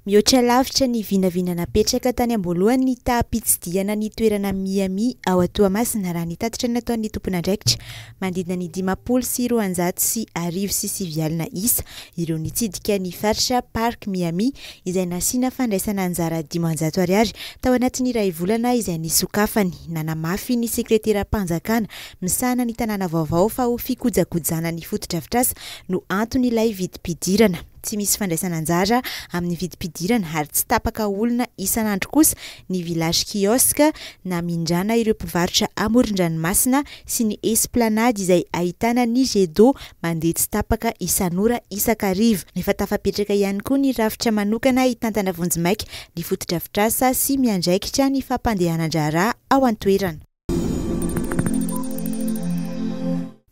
Mihoatra lavitra ny vinavina napetraka tany am-boalohany ny taham-pitsidihana ny toerana Miami ao Toamasina raha ny tatitra nataon'ny tompon'andraikitra. Manodidina ny dimampolo sy roanjato sy arivo sy sivy alina isa ireo nitsidika ny faritra Park Miami izay nasiana fandraisana anjara dimanjato ariary tao anatin'ny iray volana izay nisokafany. Nanamafy ny sekreteram-panjakana misahana ny tanàna vaovao fa ho fikojakojana ny fotodrafitrasa no anton'ilay vidim-pidirana. Tsy misy fandraisana anjara amin'ny vidim-pidirana ary tsy tapaka olona isan'andro kosa ny Village Kiosque namindrana ireo mpivarotra amoron-dranomasina sy ny Esplanade izay ahitana ny Jet d'eau mandeha tsy tapaka isan'ora isak'ariva. Efa tafapetraka ihany koa ny rafitra manokana hitantana vonjimaika ny fotodrafitrasa sy miandraikitra ny fampandehanan-draharaha ao an-toerana.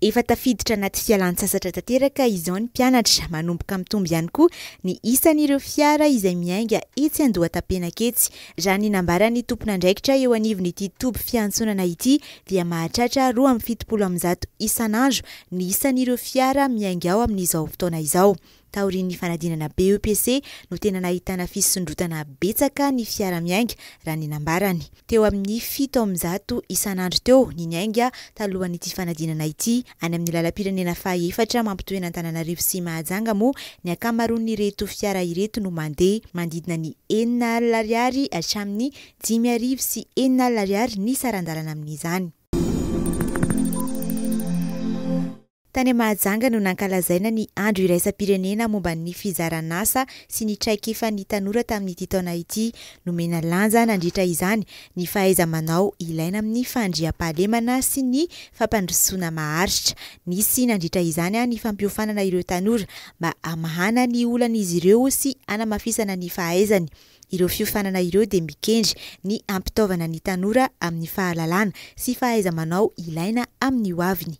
Efa tafiditra anaty fialan-tsasatra tanteraka izao ny mpianatra. Manomboka mitombo ihany koa ny isan'ireo fiara izay miainga etsy Andohatapenaka etsy. Raha ny nambaran'ny tompon'andraikitra eo anivon'ity toby fiantsonana ity dia mahatratra roa amby fitopolo amin'ny zato isan'andro ny isan'ireo fiara miainga ao amin'izao fotoana izao. Taorian'ny fanadinana BEPC no tena nahitana fisondrotana betsaka ny fiara miainga raha ny nambarany. Teo amin'ny fito amby zato isan'andro teo ny niainga talohan'ity fanadinana ity. Any amin'ny lalam-pirenena fahaefatra mampitohy an'Antananarivo sy Mahajanga moa ny ankamaroan'ireto fiara ireto no mandeha. Manodidina ny enina alina ariary hatramin'ny dimy arivo sy enina alina ariary ny saran-dalana amin'izany. Tany Mahajanga no nankalazaina ny Andro iraisam-pirenena momba ny fizaran'asa sy ny traikefan'ny tanora tamin'ity taona ity. Nomena lanja nandritra izany ny fahaiza-manao ilaina amin'ny fandriampahalemana sy ny fampandrosoana maharitra. Nisy nandritra izany ny fampiofanana ireo tanora mba hamahana ny olan'izy ireo sy hanamafisana ny fahaizany. Ireo fiofanana ireo dia mikendry ny hampitaovana ny tanora amin'ny fahalalana sy fahaiza-manao ilaina amin'ny hoaviny.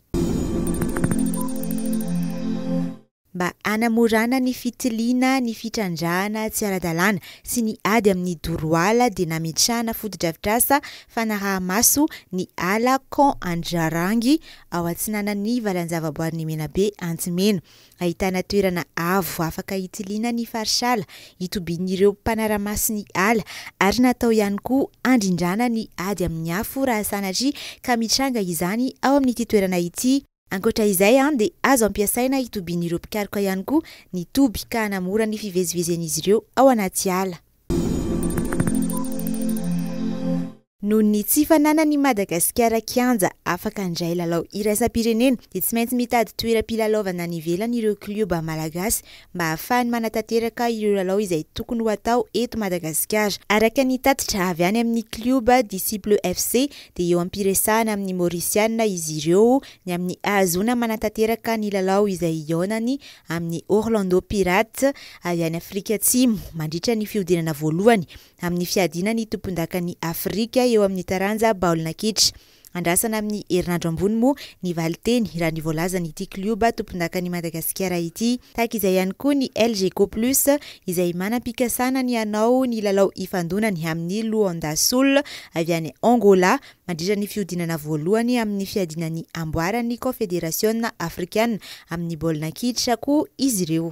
Mba hanamorana ny fitiliana ny fitrandrahana tsy ara-dalàna sy ny ady amin'ny doro ala dia nametrahana fotodrafitrasa fanaraha-maso ny ala Camp Andrarangy ao atsinanan'ny valanjavaboarin'i Menabe Antsimena Ahitana toerana avo afaka hitiliana ny farisala, hitobian'ireo mpanara-maso ny ala ary natao ihany koa handrindrana ny ady amin'ny afo raha sanatria ka mitranga izany ao amin'ity toerana ity. Ankoatra izay dia azo ampiasaina hitobian'ireo mpikaroka ihany koa ny toby ka hanamora ny fivezivezen'izy ireo ao anaty ala. Noho ny tsy fananany i Madagasikara kianja afaka handray lalao iraisam-pirenena dia tsy maintsy mitady toeram-pilalaovana any ivelany ireo klioba malagasy mba hahafahany manatanteraka ireo lalao izay tokony ho atao eto Madagasikara. Araka ny tatitra avy any amin'ny klioba Disciples FC dia eo am-piresahana amin'ny Maorisiana izy ireo ny amin'ny hahazoana manatanteraka ny lalao izay hihaonany amin'ny Orlando Pirates avy any Afrika Atsimo mandritra ny fihodinana voalohany amin'ny fiadiana ny tompondakan'i Afrika eo amin'ny taranja baolina kitra. Andrasana amin'ny herinandro ambony moa ny valinteny raha ny voalazan'ity klioba tompondakan'i Madagasikara ity. Tahaka izay ihany koa ny Elgeco Plus izay manam-pikasana ny hanao ny lalao hifandonany amin'ny Luanda Sul avy any Angola mandritra ny fihodinana voalohany amin'ny fiadiana ny amboaran'ny Kaonfederasiona Afrikana amin'ny baolina kitra koa izy ireo.